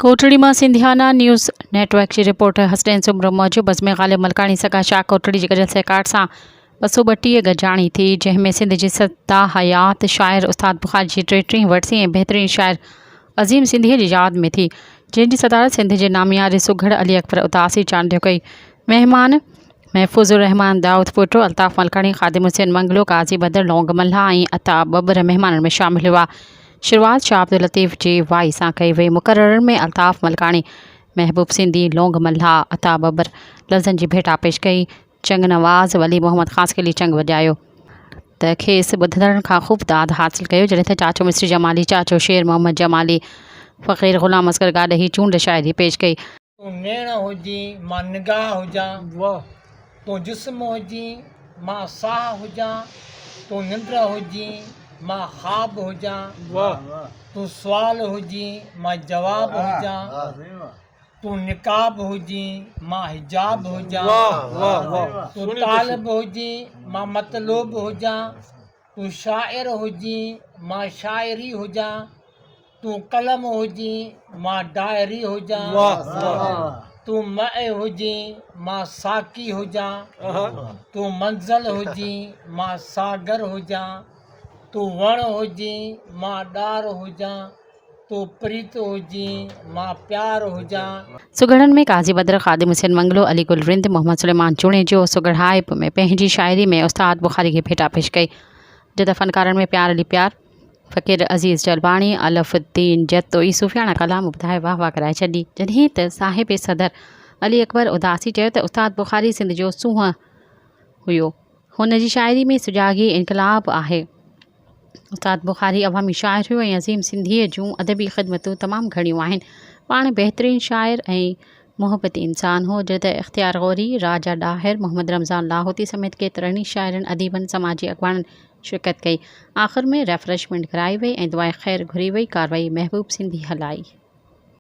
ڪوٽڙي مان Sindhiana news network جي reporter Hasnain Soomro موجب عزمي غالب ملڪاڻي سگا شاهه ڪوٽڙي جي گڏيل سهڪار سان ٻه سؤ ٻٽيهه گڏجاڻي ٿي جنهن ۾ سنڌ جي سدا حيات شاعر استاد بخاري جي ٽي ٽيهين ورسي ۽ بهترين شاعر عظيم سنڌيء جي ياد ۾ ٿي جنهن جي صدارت سنڌ جي نامياري سگهڙ علي اڪبر اداسي چانڊيو ڪئي مهمان محفوظ الرحمان دائودپوٽو، الطاف ملڪاڻي، خادم حسين منگلو، قاضي بدر، لونگ ملاح ۽ عطا ٻٻر مهمانن ۾ شامل هئا. شروعات شاهه عبداللطيف جي وائي سان ڪئي وئي. مقررن ۾ الطاف ملڪاڻي، محبوب سنڌي، لونگ ملاح، عطا ٻٻر لفظن جي ڀيٽا پيش ڪئي. چنگ نواز ولي محمد خاصخيلي چنگ وڄايو. ته کيس ٻڌندڙن کان خوب داد حاصل ڪيو. جڏهن ته چاچو مصري جمالي، چاچو شير محمد جمالي، فقير غلام اصغر گاڏهي چونڊ شاعري پيش ڪئي. تون نيڻ هجين، مان نگاهه هجان. تون جسم هجين، مان ساهه هجان. تون ننڊ هجين، مان خواب هجان. تون سوال هجين، مان جواب هجان. تون نقاب هجين، مان حجاب هجان. تون طالب هجين، مان مطلوب هجان. تون شاعر هجين، مان شاعري هجان. تون قلم هجين مان ڊائري هجان تون مئي هجين مان ساقي هجان تون منزل هجين مان ساگر هجان تون وڻ هجين مان ڏار هجان تون پريت هجين مان پيار هجان. سگهڙن ۾ قاضي بدر، خادم حسين منگلو، علي گل رند، محمد سليمان جوڻيجو، سگهڙائپ ۾ پنهنجي شاعري ۾ استاد بخاري کي ڀيٽا پيش ڪئي جدا فنڪارن ۾ پيار علي پيار، فقير عزيز جلباڻي الف الدين جتوئي صوفياڻا ڪلام ٻڌائي واھ واھ ڪرائي ڇڏي. جڏهن ته صاحب صدر علي اڪبر اداسي چيو ته استاد بخاري سنڌ جو سونهن هيو. هن جي شاعري ۾ سجاڳي انقلاب آهي. استاد بخاري عوامي شاعر هيو ۽ عظيم سنڌيء جون ادبي خدمتون تمام گهڻيون آهن. پاڻ بهترين شاعر ۽ محبتي انسان هو. جڏهن ته اختيار غوري، راجا ڏاهر، محمد رمضان لاهوتي سميت ڪيترن ئي شاعرن، اديبن، سماجي اڳواڻن، شرڪت ڪئي آخر ۾ ريفريشمينٽ ڪرائي وئي ۽ دعائي خير گهري وئي ڪاروائي محبوب سنڌي هلائي.